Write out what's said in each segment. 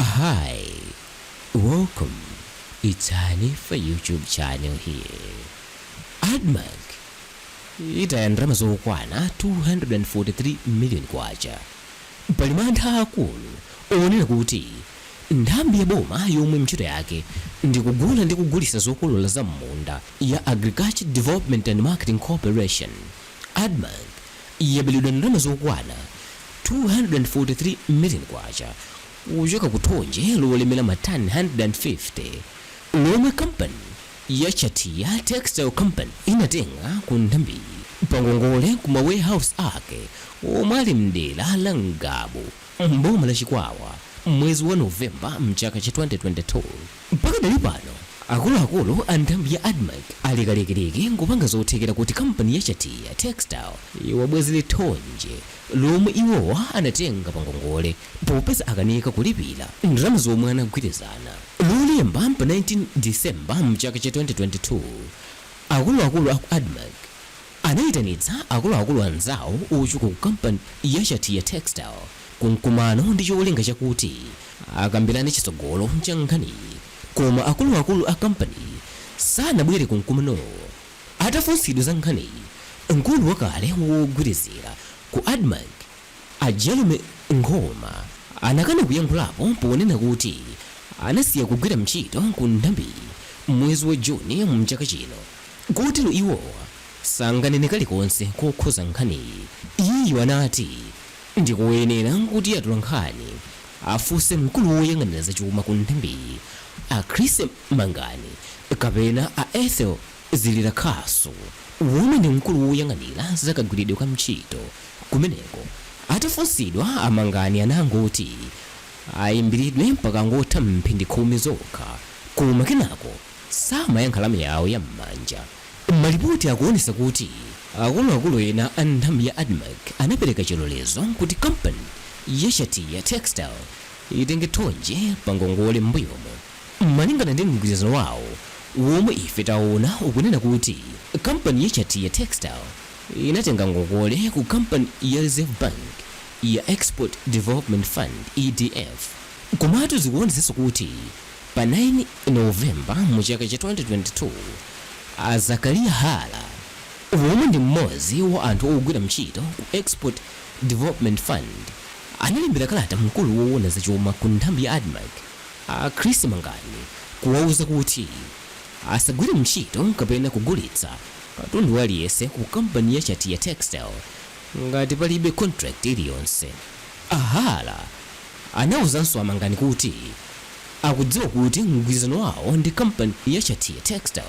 Hi, welcome it's Hanifa YouTube channel here. Admarc itaya ndalama zokwana 243 million kwacha. Pali mantha akulu onena kuti nthambi ya boma yomwe ntchito yake ndi kugula ndi kugulitsa zokolola za m'munda ya Agriculture Development and Marketing Corporation Admarc yaberedwa ndalama zokwana 243 million kwacha kuchoka ku thonje lolemera matani 150 lomwe kampani ya Chatiya Textile Company inatenga ku nthambiyi pangongole ku ma warehouse ake omwe ali m'dera la Ngabu m'boma la Chikwawa mwezi wa November mchaka cha 2022. Pakadali pano, akuluakulu a nthambi ya Admarc ali kalikiliki nkupanga zothekera kuti kampani ya Chatiya Textile iwabwezere thonje lomwe iwowa anatenga pa ngongole popeza akanika kulipira ndalama zomwe anagwirizana. Lolemba pa 19 December mchaka cha 2022, akuluakulu aku Admarc, anaitanitsa akuluakulu anzawo ochoka ku kampani ya Chatiya Textile ku mkumano ndi cholinga chakuti akambirane chitsogolo cha nkhaniyi koma akuluakulu a kampaniyi sanabwere ku mkumanowo. Atafunsidwa za nkhaniyi, mkulu wakale wogwirizira ku Admarc a Jerome Nkhoma anakana kuyankhulapo ponena kuti anasiya kugwira mchito ku nthambiyi m'mwezi wa June mchaka chino. Kotero iwowa sanganene kalikonse kokhuza nkhaniyi. Iyeyu anati ndikoyenera kuti atolankhani afunse mkulu woyang'anira zachuma ku nthambiyi a Chris Mangani kapena a Ethel Zilirakhasu womwe ndi mkulu woyang'anira za kagwiridwe ka ntchito kumeneko. Atafunsidwa a Mangani anangoti ayimbilidwe pakangotha mphindi khumi zokha koma kenako. samayankha lamya yawo ya m'manja. Malipoti akuonesa kuti akuluakulu ena a nthambi ya Admarc anapeleka chilolezo kuti kampani ya Chatiya Textile itenge thonje pa ngongole m'mbuyomo. Malingana ndi mgwirizano wawo womwe ife taona ukunena kuti kampani ya Chatiya Textile inatenga ngongole ku kampani ya Reserve Bank ya Export Development Fund, EDF, komatu zikuonesaso kuti. Pa 9 November mu chaka cha 2022, a Zachariah Hara womwe ndi m'modzi wa anthu ogwira mchito ku Export Development Fund analembera kalata mkulu wowona za chuma ku nthambi ya Admarc a Chris Mangani kuwauza kuti asagwire mchito kapena kugulitsa katundu waliyese ku kampani ya Chatiya Textile ngati palibe contract iliyonse. A Hara anauzanso a Mangani kuti akudziwa kuti mgwirizano wawo ndi kampani ya Chatiya Textile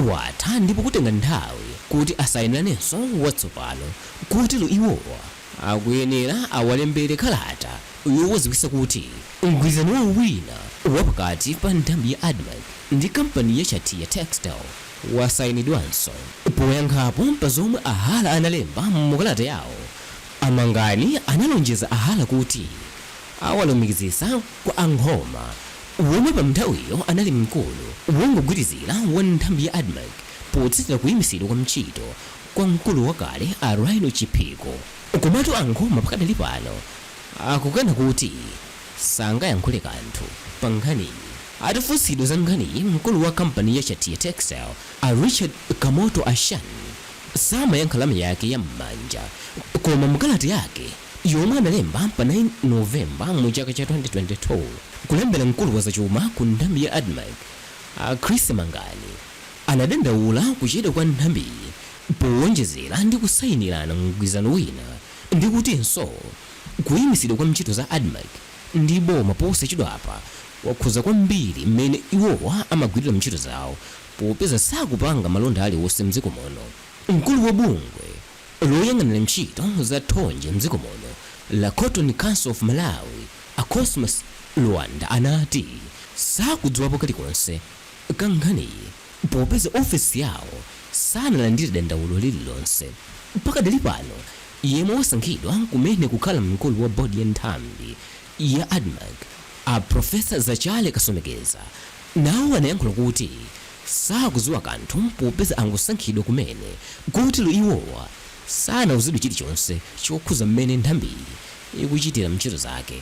watha ndipo kutenga nthawi kuti asayiniranenso watsopano kotero iwowa akuyenera awalembere kalata yowaziwisa kuti mgwirizano wawo wina wapakati pa nthambi ya Admarc ndi kampani ya Chatiya Textile wasayinidwanso. Poyankhapo pa zomwe a Hara analemba mu kalata yawo, A Mangani analonjeza a Hara kuti awalumikizitsa kwa a Nkhoma womwe pa nthawiyo anali mkulu wongogwirizira wa nthambi ya Admarc potsatira kuyimitsidwa kwa ntchito kwa mkulu wakale a Rhino Chiphiko. Komatu a Nkhoma pakadali pano akukana kuti sangayankhule kanthu pa nkhaniyi. Atafunsidwa za nkhaniyi mkulu wa kampani ya Chatiya Textile a Richard Kamoto Ashan samayankha lamya yake ya m'manja, koma mu kalata yake yomwe analemba pa 9 November mu chaka cha 2022 kulembera mkulu wa zachuma ku nthambi ya Admarc a Chrissy Mangani, anadandaula kuchedwa kwa nthambiyi powonjezera ndi kusayinirana mgwirizano wina ndi kutinso kuyimitsidwa kwa ntchito za Admarc ndi boma posachedwapa kwakhuza kwambiri m'mene iwowa amagwilira ntchito zawo. popeza sakupanga malonda aliwonse m'dziko muno. Mkulu wa bungwe loyang'anira ntchito zokhuza thonje m'dziko muno la Cotton Council of Malawi, a Cosmas Luwanda anati sakudziwapo kalikonse ka nkhaniyi popeza ofesi yawo sanalandire dandaulo lililonse. Pakadali pano, yemwe wasankhidwa kumene kukhala mkulu wa bodi ya nthambi ya Admarc, a Professor Zachary Kasomekera, nawo anayankhula kuti sakuziwa kanthu popeza angosankhidwa kumene kotero iwowa sanauzidwe chilichonse chokhuza m'mene nthambiyi ikuchitira ntchito zake.